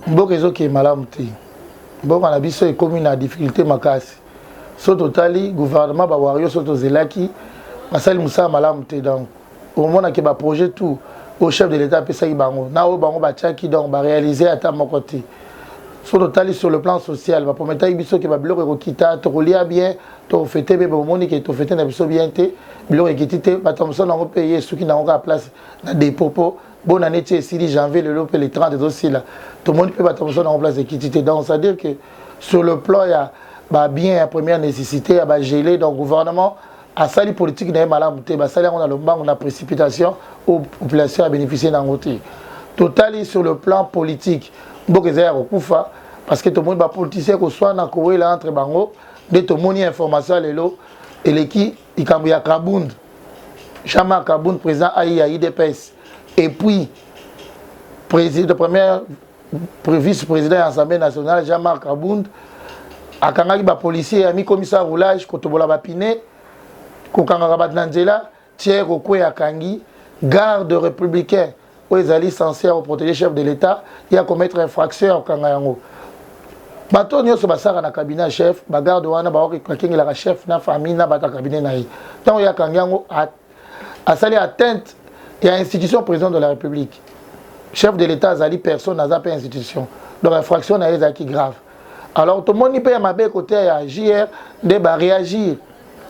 mboka ezokee malamu te mboka na biso ekomi na difficulté makasi so totali gouvernement bawario so tozelaki basali mosala malamu te donc omonake baprojet tout oyo chef de l'état apesaki bango na oyo bango batiaki donc baréalise ata moko te so totali sur le plan social baprometaki biso ke babiloko ekokita tokolia bien tofete bebe omoni ke tofete na biso bien te biloko ekiti te bato ya mosala yango mpe ye esuki na yango kaka place na depot mpo bona neti esili janvier lelo mpe le 30 ezosila tomoni mpe bato ya mosala yango place ekiti te donc c'est à dire que sur le plan ya babien ya première nécessité ya bagele donc gouvernement asali politike na ye malamu te basali yango na lombango na précipitation oyo population ya bénéficie na yango te totali sur le plan politique mboka ezali ya kokufa parce que tomoni bapoliticien koswana kowela entre bango nde tomoni information ya lelo eleki likambo ya kabund jean-marc kabund président ai ya idps et puis président première vice président ya assemblée nationale jean-marc kabund akangaki bapolicier ya mikomisa roulage kotobola bapine kokangaka bato na nzela Tiers Okwe akangi garde republicain oyo ezali sense ya koproteger chef de l'Etat ye akomettre infraction ya kokanga yango bato oyo nyonso basalaka na cabinet ya chef bagarde wana baoki bakengelaka chef na famille na bato ya cabinet na ye ntango ye akangi yango asali atteinte ya institution président de la république chef de l'Etat azali personne aza mpe institution donc infraction na ye ezalaki grave alors tomoni mpe ya mabe kote ya jr nde baréagir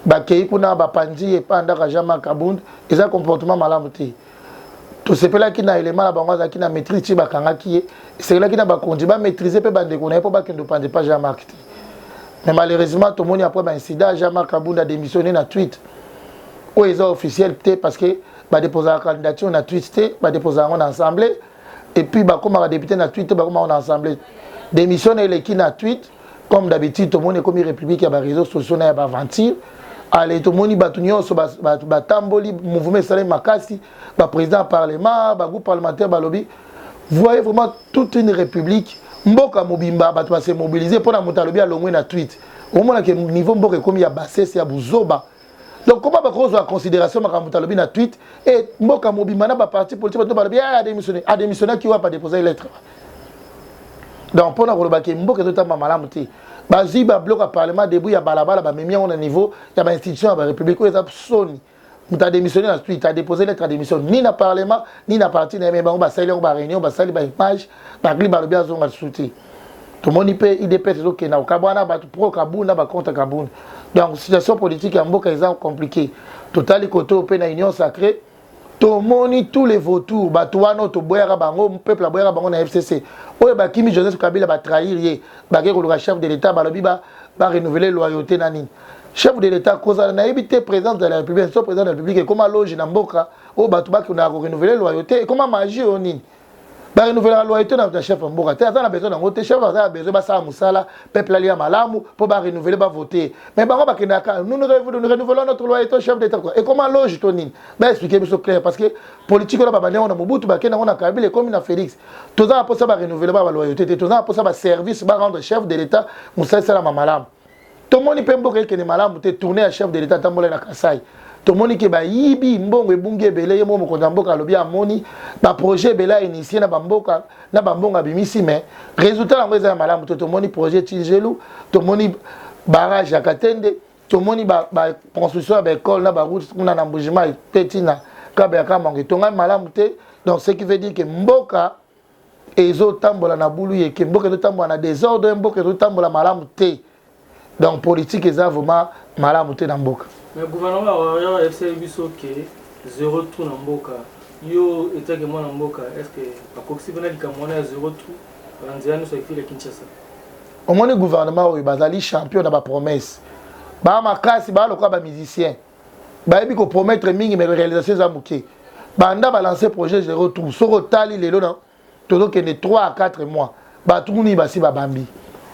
bakei kuna bapanzi ye epai ndaka jean marc abund eza comportement malamu te tosepelaki na elema na bango azalaki na maîtrise ti bakangaki ye esekelaki na bakonzi bamaîtrise mpe bandeko na ye mpo bakende opanza epai jean marc te mais malheureusement tomoni après baincident jean marc abund adémissionne na tweet oyo eza officiel te parce que badeposaka candidature na tweet te badeposaka yango na assemblée et puis bakomaka député na tweet bakomaka na assemblée démission na eleki na tweet comme d'habitude tomoni ekomi république ya baréseau sociaux na ya baaventure ale tomoni bato nyonso batamboli mouvement esalemi makasi baprésident ya parlement bagroupe parlementaire balobi voyez vraiment toute une république mboka mobimba bato base mobilise mpo na moto alobi alongwe na tweet omonake niveau mboka ekomi ya basese ya buzoba donc koma bakozwa considération makambo talobi na tweet e eh, mboka mobimba na baparti politique bato balobi eh, adémissionne adémissionnaki wapi adéposaki lettre donc mpo na koloba ke mboka ezotamba malamu te bazwi babloko ya parlement debout ya balabala bamemi yango na niveau ya bainstitution ya barépublique oyo eza soni moto adémissionne na tweet adépose lettre ya démission ni na parlement ni na parti na ye me bango basali yango baréunion basali baimage bacli balobi azonga lisusu te tomoni mpe idps ezokende na kokabwana bato pro kabund na bacontre kabund donc situation politique ya mboka eza compliqué totali koto mpe na union sacré tomoni tous les vautours bato wana oyo toboyaka bango peuple aboyaka bango na fcc oyo bakimi joseph kabila batrahir ye bakei koluka chef de l'état balobi barenouvele loyauté na nini chef de l'état kozala nayebi te présidence de la république so président de la république ekoma loge na mboka oyo bato bakendaka korenouvele loyauté ekoma magie oyo nini ba renouvelaka loyauté na chef ya mboka te aza na besoin nango te chef aza na besoin basala mosala peuple alia malamu mpo ba renouveler ba voter mais bango bakendaka nous nous renouvelons notre loyauté chef d'état quoi ekoma loge to nini ba expliquer biso clair parce que politique oyo babandi yango na mobutu bakenda yango na kabila ekomi na félix toza na mposa ba renouveler ba ba loyauté te toza na mposa ba service ba rendre chef de l'état mosala esalama malamu tomoni mpe mboka ekende malamu te tourne ya chef de l'etat atambolai na kasai tomoni ke bayibi mbongo ebungi ebele ye moko mokonzi ya mboka alobi amoni baprojet ebele ya initie na bamboka na bambongo abimisi mais résultat yango eza ya malamu te tomoni projet chinzelu tomoni barrage ya katende tomoni baconstruction ba ya baekole na baroute kuna na mbujimai mpe ntina kabe ya kamango etongami malamu te donc ce qui veut dire ke mboka ezotambola na bulu yeke mboka ezotambola na desordre mboka ezotambola malamu te donc politique eza vraiment malamu te na mboka mais gouvernement ya warrior ayebisaki biso ke zero trou na mboka yo etake mwana mboka est ce que bakokisi mpena likambo wana ya zero trou na nzela nyonso ya ville ya kinshasa omoni gouvernement oyo bazali champion na bapromesse baa makasi baa lokola bamusicien bayebi ko promettre mingi mais réalisation eza moke banda ba lancer projet zero trou soki otali lelo na tozokende 3 à 4 mois bato nini basi babambi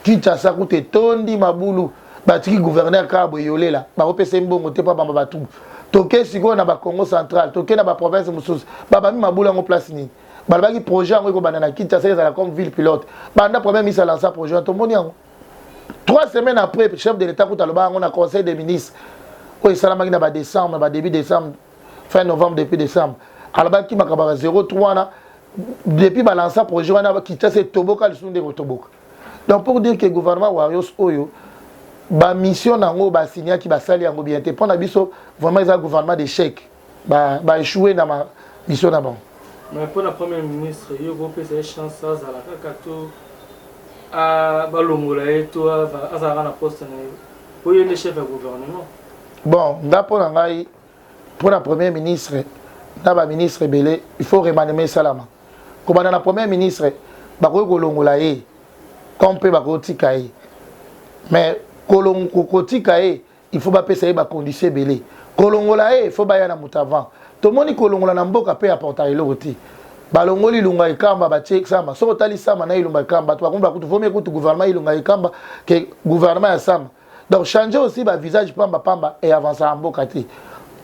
kinshasa kuta etondi mabulu batiki gouverneur kaka boye yolela bakopesa ye mbongo te mpo abamba batubu toke sikoyo na bacongo central toke na baprovince mosusu babambi mabulu yango place nini balobaki projet yango ekobanda na kinshasa ezala comme ville pilote banda premier ministre alansa projet wana tomoni yango trois semaines après chef de l'état kuta alobaka yango na conseil des ministres oyo esalamaki na badécembre ba début décembre fin novembre depuis décembre alobaki makambo ya 03 wana depuis balansa projet wana kitasa etoboka lisusu nde kotoboka donc pour dire que gouvernement warrios oyo bamission na yango basignaki basali yango bien te mpo na biso vraiment eza gouvernement d'échec ba ba échouer na ma mission na bango mais mpo na premier ministre yo kopesa ye chance azala kaka to balongola ye to azalaka na poste na ye mpo ye nde chef ya gouvernement bon nga mpo na ngai mpo na premier ministre na baministre ebele il faut remanema esalama kobanda na premier ministre bakoki kolongola ye comme mpe bakotika ye mais kotika ye il faut bapesa ye bacondition ebele kolongola ye faut baya na moto avant tomoni kolongola na mboka mpe aportaka eloko te balongoli ilunga ekamba batie sama soki otali sama na ilunga ekamba bato bakomi bakutu vomi ekutu gouvernement ilunga ekamba ke gouvernement ya sama donc changer aussi bavisage pamba pamba eavansaka mboka te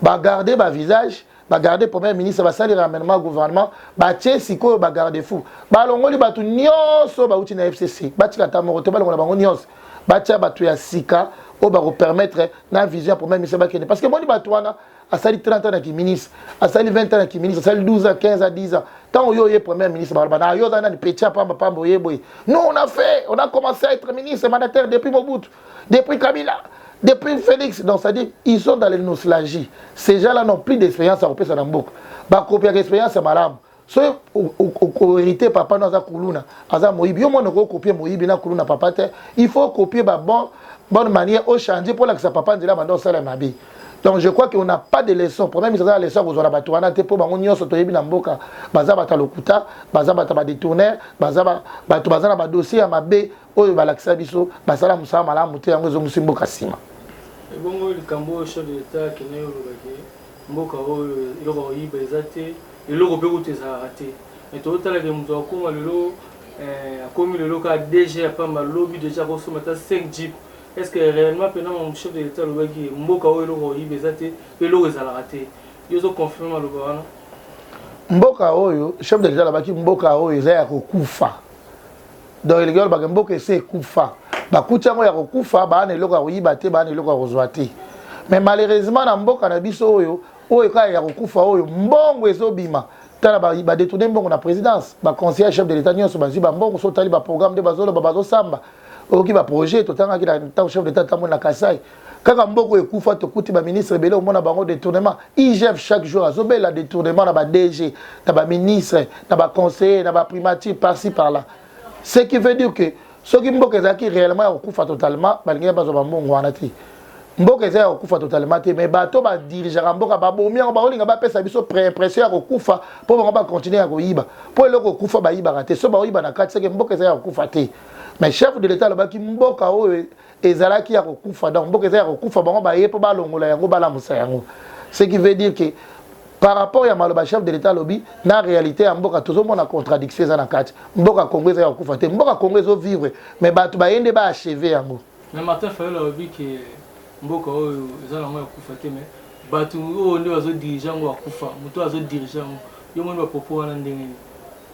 bagarde bavisage ba ba garde premier ministre basali ramenement ya gouvernement batie sikoyo ba garde fou balongoli bato nyonso bauti na fcc batika ata moko te balongola bango nyonso batia bato ya sika oyo bakopermettre na vision ya premier ministre bakende parce que moni bato wana asali 30 ans na kiministre asali 20 ans na kiministre asali 12 ans 15 ans 10 ans ntango yo oye premier ministre baloba na yo oza nani petit ya pamba pamba oye boye non on a fait on a commencé à être ministre mandataire depuis mobutu Depuis Kabila, depuis Felix, donc ça dit, ils sont dans les nostalgies. Ces gens-là n'ont plus d'expérience à repérer dans le book. Bah, copier l'expérience, c'est malade. soki okoherite papa no aza kuluna aza moyibi yo mwana okokopie moyibi na kuluna papa te il faut kopie babon bonne manière ochange mpo olakisa papa nzela banda osala mabe donc je crois qu'on n'a pas de leçon problème eza na leçon kozwa na bato wana te mpo bango nyonso toyebi na mboka baza bato ya lokuta baza bato ya badetourner baza bato baza na badossier ya mabe oyo balakisa biso basala mosala malamu te yango ezongisi mboka nsima ebongo likambo oyo chef de l'etat akendaki olobaki mboka oyo eloko oyiba eza te eloko mpe kutu ezalaka te me totalaka moto akoma lelo eh, akomi lelo kaka dg ya pamba lobi deja akosomba ata 5 jeep est ce que réellement mpena chef de l'etat alobaki mboka oyo eloko oyiba eza te mpe eloko ezalaka te yo ozoconfirme maloba wana mboka oyo chef de l'etat alobaki mboka oyo eza ya kokufa donc elingi oloba ke mboka esi ekufa bakuti yango ya kokufa baa na eloko ya koyiba te baa na eloko ya kozwa te mais malheureusement na mboka na biso oyo oyo kaka ya kokufa oyo mbongo ezobima tala badetourne ba mbongo na présidence baconseiller ya chef de l'état nyonso bazwi bambongo so otali baprogramme nde bazoloba bazosamba oyoki baprojet totangaki na ntango chef de l'état atamboli na kasai Kaka mboko ekufa tokuti ba ministre ebele omona bango detournement IGF chaque jour azobela detournement na ba DG na ba ministre na ba conseiller na ba primature par ci par là ce qui veut dire que soki mboka ezalaki réellement ya kokufa totalement balingaki bazwa bambongo wana te mboka eza ya kokufa totalement te mais bato badirigeaka mboka babomi yango bakolinga bapesa biso préimpression ya kokufa mpo bango bacontinue ya koyiba mpo eloko kokufa bayibaka te so bakoyiba na kati seke mboka eza ya kokufa te mais chef de l'état alobaki mboka oyo ezalaki ya kokufa donc mboka eza ya kokufa bango baye mpo balongola yango balamusa yango ce qui veut dire que par rapport ya maloba chef de l'état alobi na réalité ya mboka tozomona contradiction eza na kati mboka congo eza ya kokufa te mboka congo ezovivre mais bato baye nde baacheve yango mais martin fayol alobi ke mboka oyo eza nango ya kokufa te mais bato oyo nde bazodirige yango bakufa moto azodirige yango yo moni bapropos wana ndenge nini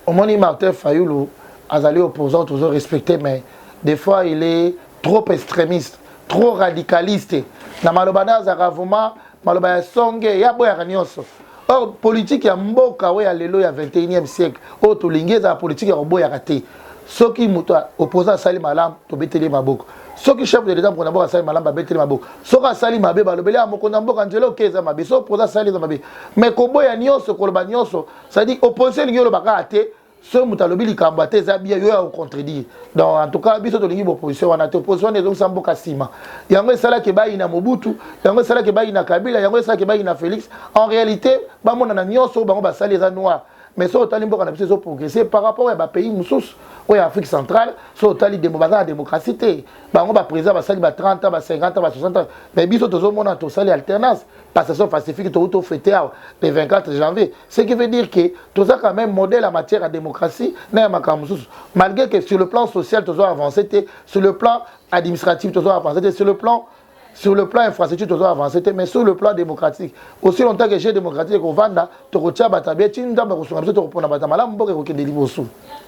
Omoni Martin Fayulu azali opposant tozo respecter mais des fois il est trop extremiste, trop radicaliste na maloba naye azalaka vraiment maloba ya songe ye aboyaka nionso or politique ya mboka oyo ya lelo ya 21e siècle oyo tolingi ezala politique ya koboyaka te soki moto opposant asali malamu tobeteli ye maboko soki chef de l'etat mokonzi ya mboka asali malamu babeteli maboko soki asali mabe balobeli ya mokonzi ya mboka nzela oke eza mabe soki opposant asali eza mabe mais koboya nyonso koloba nyonso cetadire opposition elingi oloba kaka te soki moto alobi likambo ata eza bia yo ya kocontredire donc en tout cas biso tolingi baopposition wana te opposition wana ezongisa mboka nsima yango esalaki ebayi na mobutu yango esalaki ebayi na kabila yango esalaki ebayi na félix en réalité bamonana nyonso oyo bango basali eza noir mais soki otali mboka na biso ezoprogresse par rapport ya bapays mosusu oyo ya afrique centrale soki otali demo baza na démocratie te bango baprésident basali ba 30 ba 50 ba 60 mais biso tozomona tosali alternance passation pacifique to to fete awa le 24 janvier ce qui veut dire que toza quand même modèle en matière ya démocratie na ya makambo mosusu malgré que sur le plan social tozo avancer te sur le plan administratif tozo avancer te sur le plan sur le plan infrastructure tozo avancer te mais sur le plan démocratique aussi longtemps que jeu démocratique ekovanda tokotia bato ya bie ti nzambe akosunga biso tokopona bato ya malamu mboka ekokende liboso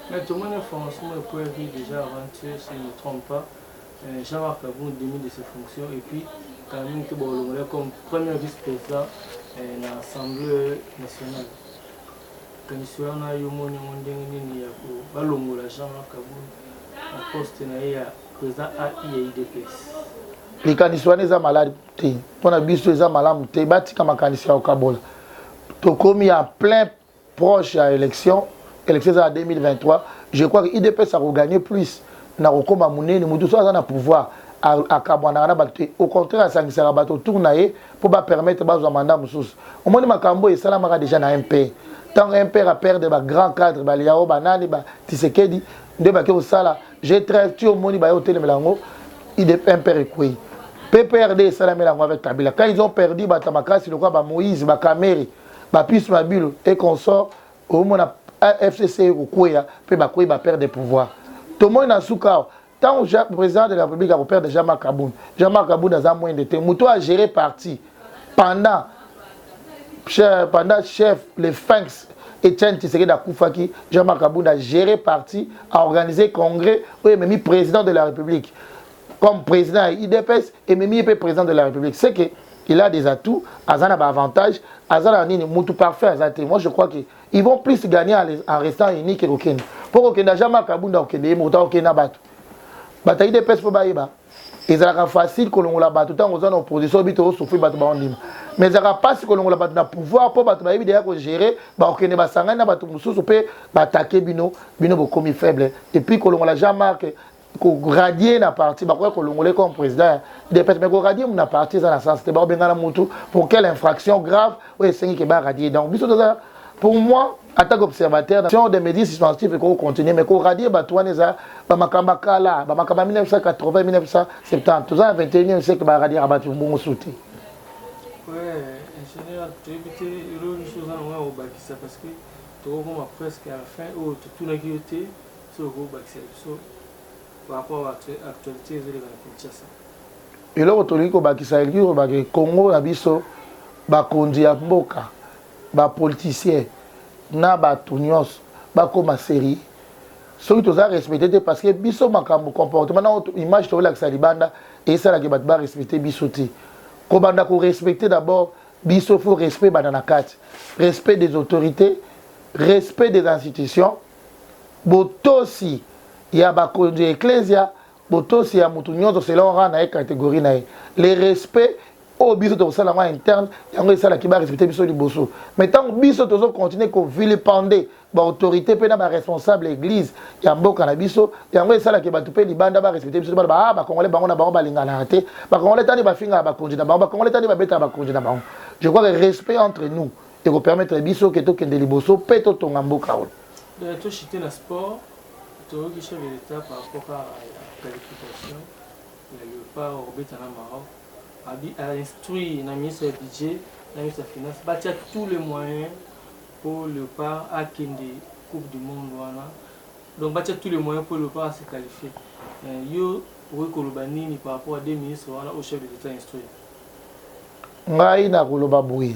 mais tomoni information moko epoyaki déjà avant si ne trompe pas Jean Marc Kabund demi de ses fonctions et puis Carmine Keba olongola comme premier vice-president na Assemblée nationale. Likanisi wana yo moni yango ndenge nini ya balongola Jean Marc Kabund na poste na ye ya président AI ya UDPS? Likanisi wana eza malade te mpo na biso eza malamu te batika makanisi ya kokabola tokomi ya plein proche ya election election eza na 2023 je crois que idps akoganye plus na kokoma monene moto so aza na pouvoir akabwanaka na bato te au contraire asangisaka bato autour na ye mpo bapermettre bazwa mandat mosusu omoni makambo oyo esalamaka déjà na mp ntango mpr aperdre bagrand cadre baliao banani batisekedi nde bake kosala je 13 ti omoni baye kotelemela yango mpr ekwei pprd esalamela yango avec kabila quand ils ont perdu bato ya makasi lokola bamoïse bakamere ba puce mabilu et consort omona fcc ekokweya mpe bakweyi ba père de pouvoir tomoni na nsuka awa ntango président de la république akopère de jean marc kabund jean marc kabund aza mwende te moto oyo agere parti pendant pendant chef le finx Etienne Tshisekedi akufaki Jean-Marc Kabunda géré parti a organisé congrès oyo ememi président de la République comme président ya idps ememi ye mpe président de la république c'est que il a des atouts aza na baavantage aza na nini mutu parfait aza te moi je crois que ils vont plus gagner en restant unis ke kokende mpo kokenda jean marc abunda kokende ye mokuta kokende na bato bato ya idps mpo bayeba ezalaka facile kolongola bato ntango oza na opposition obi toosufri bato baondima mais ezalaka mpasi kolongola bato na pouvoir mpo bato bayebi deya kogere bakokende basangani na bato mosusu mpe batake bino bino bokomi faible epuis kolongola jean marc ko radier na parti bakoya kolongola comme président ya depete mais ko radier na parti eza na sens te bakobengana mutu pour quelle infraction grave oyo esengi ke ba radier donc biso toza pour moi en tant qu'observateur nation des médias suspensitifs ekoki continuer mais ko radier bato wana eza bamakambo kala bamakambo ya 1980 1970 toza na 21e siècle ba radier bato mbongo su te toyebi te eloko nyonso oza na ngai ya kobakisa parce que tokokoma presque à la fin oyo totunaki yo te eloko tolingi kobakisa elingi kobaka congo na biso bakonzi ya mboka bapoliticien na bato nyonso bakóma serie soki toza respecte te parce que biso makambo comportement na image tokolakisa libanda esalaki bato barespecte biso te kobanda korespecte d'abord biso faut respect banda na kati respect des autorités respect des institutions Botosi ya bakonzi ya Eklezia, botosi ya mutu nionso selon rang na ye, categorie na ye. Le respect oyo biso tokosala yango en interne, yango esalaki ba respecter biso liboso. Mais tango biso tozo continuer ko vilipender ba autorites mpe na ba responsables ya eglise ya mboka na biso, yango esala que batu mpe libanda ba respecter biso te, baloba ah ba congolais bango na bango balinganaka te, ba congolais ta nde bafingaka bakonzi na bango, ba congolais ta nde babetaka bakonzi na bango. Je crois que respect entre nous, eko permettre biso ke tokende liboso mpe totonga mboka oyo euh, toshite na sport toyoki chef de l'etat par rapport kaka ya qualification ya leopard obeta na maroc ainstruit na ministre ya budget na ministre ya finance batia tous les moyens mpo leopard akende coupe du monde wana donc batia tous les moyens mpo leopard ase qualifie euh, yo okoki koloba nini par rapport ya deux ministre wana au chef de l'etat instruit ngai nakoloba boye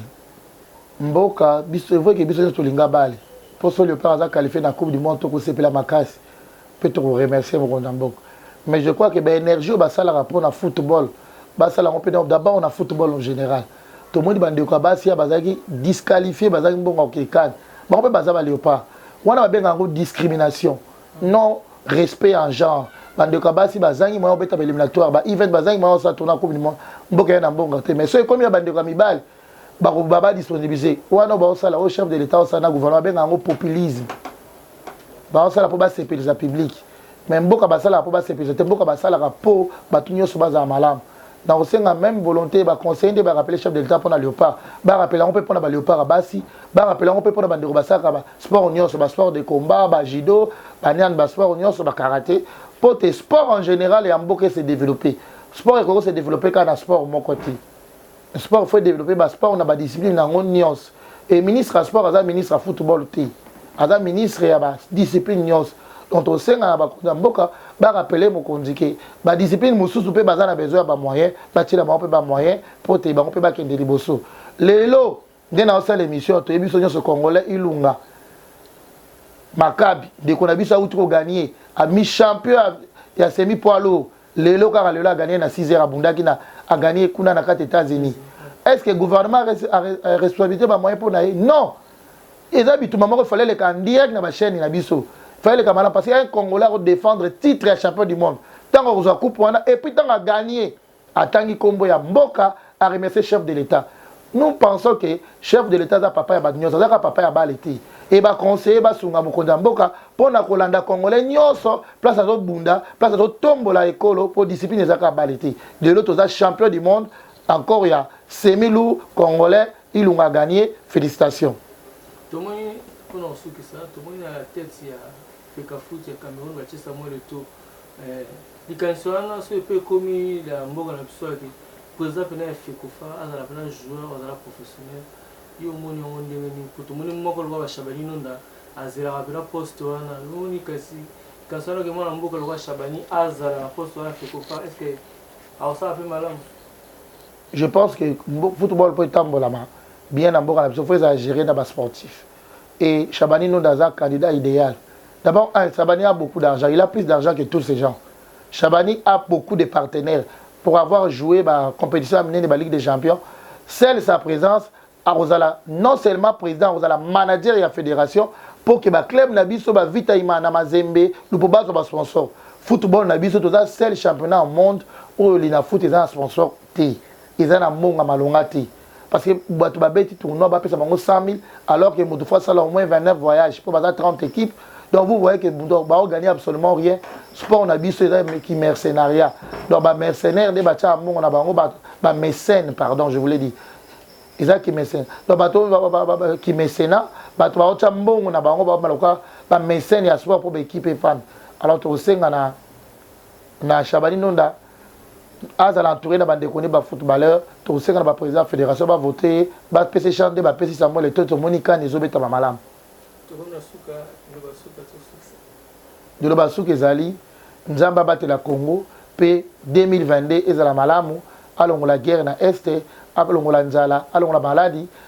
mboka biso est vrai que biso nionso tolinga balle po soki leopard aza qualifie na coupe du monde toko sepela makasi pe toko remercier mokonzi ya mboka mais je crois que ba energie oyo basalaka po na football basala yango pe d'abord na football en general tomoni ba ndeko ya basi ya bazalaki disqualifie bazalaki mbongo ya kokende can bango pe baza ba leopard wana babengaka yango discrimination non respect en genre ba ndeko ya basi bazangi moyen obeta ba éliminatoire ba event bazangi moyen osala tourna coupe du monde mboka ya na mbongo te mais soki ekomi ya ba ndeko ya mibali bako baba disponibiliser wana bao sala o chef de l'etat au sana gouvernement benga yango populisme bao sala po ba sepelisa public mais mboka ba sala po ba sepelisa te mboka ba sala po batu nyoso ba za malamu na kosenga même volonté ba conseiller nde ba rappeler chef de l'etat pona leopard ba rappeler yango pe pona ba leopard basi ba rappeler yango pe pona ba ndeko ba saka ba sport nyoso ba sport de combat ba judo ba nian ba sport nyoso ba karaté po te sport en général ya mboka se développer sport ekoki se développer kaka na sport moko te Sport faut developper ba sport na ba discipline na ngo nios. Et ministre ya sport aza ministre ya football te. Aza ministre ya ba discipline nios. Donc tosenga na bakonzi ya mboka ba rappeler mokonzi ke ba discipline mosusu mpe baza na besoin ya ba moyen batiela bango mpe ba moyen mpo te bango mpe bakende liboso lelo nde na osala emission ya toyebi biso nyonso congolais ilunga makabi ndeko na biso awuti koganie ami champion ya semi poids lourd lelo kaka lelo aganie na 6 heures abundaki na aganie kuna na kati états-unis est ce que gouvernement a responsabilité bamoyen mpo na ye non eza bituma moko fale eleka en direct na bachaîne na biso fale eleka malamu parce que un congolais akodefendre titre ya champion du monde ntango akozwa coupe wana epuis ntango aganie Atangi kombo ya mboka a remercier chef de l'etat. Nous pensons que chef de l'etat aza papa ya batu nionso, aza kaka papa ya bale te. Et ba conseillers ba sunga mokonzi ya mboka pona ko landa congolais nionso place azo bunda, place azo tombola ekolo po discipline eza kaka bale te. Lelo toza champion du monde encore ya semi lourd congolais Ilunga a gagner. Felicitations. Tomoni pona kosukisa, tomoni na tete ya Fecafoot ya Cameroun batie Samuel Eto'o Eh, likanisi wana soki mpe ekomi lya mboka na biso ake president pena ya fecofa azala pena joueur azala professionnel yo omoni yango ndenge nini po tomoni moko lokola ba shabani nonda azelaka pena poste wana omoni kasi likanisi wana ke mwana mboka lokola shabani azala na poste wana fecofa est ce que akosala mpe malamu je pense que football mpo etambolama bien na mboka na biso fo ezala gere na ba sportif et shabani nonda aza candidat ideal d'abord un shabani a beaucoup d'argent il a plus d'argent que tous ces gens shabani a beaucoup de partenaires pour avoir joue ba competition ya minene ba ligue de champion seul sa presence akozala non seulement president akozala manager ya federation pour que ba club na biso ba vita imana mazembe lupo bazwa ba sponsor football na biso toza seul championnat au monde oyo lina foot eza na sponsor te eza na mbongo ya malonga te parce que bato babeti tournoi bapesa bango 100 000 alors que moto faut asala au moins 29 voyage mpo baza 30 équipe donc vous voyez que baogagner absolument rien sport na biso eza ki mercenariat donc bamercenaire nde batyaka mbongo na bango bamécène pardon je voulais dire eza kimesena donc bato kimesena bato baotya mbongo na bango baomaloka bamécène ya sport mpo baekipe efanda alors tokosenga na na Shabani Nonda azala entouré na bandeko ne ba footballeur tokosenga na ba président ya fédération ba vote ye bapesa ye chance nde bapesi Samuel Eto'o tomoni CAN ezobetama malamu liloba suka ezali nzambe abatela Congo pe 2022 ezala malamu alongola guerre na est alongola nzala alongola maladi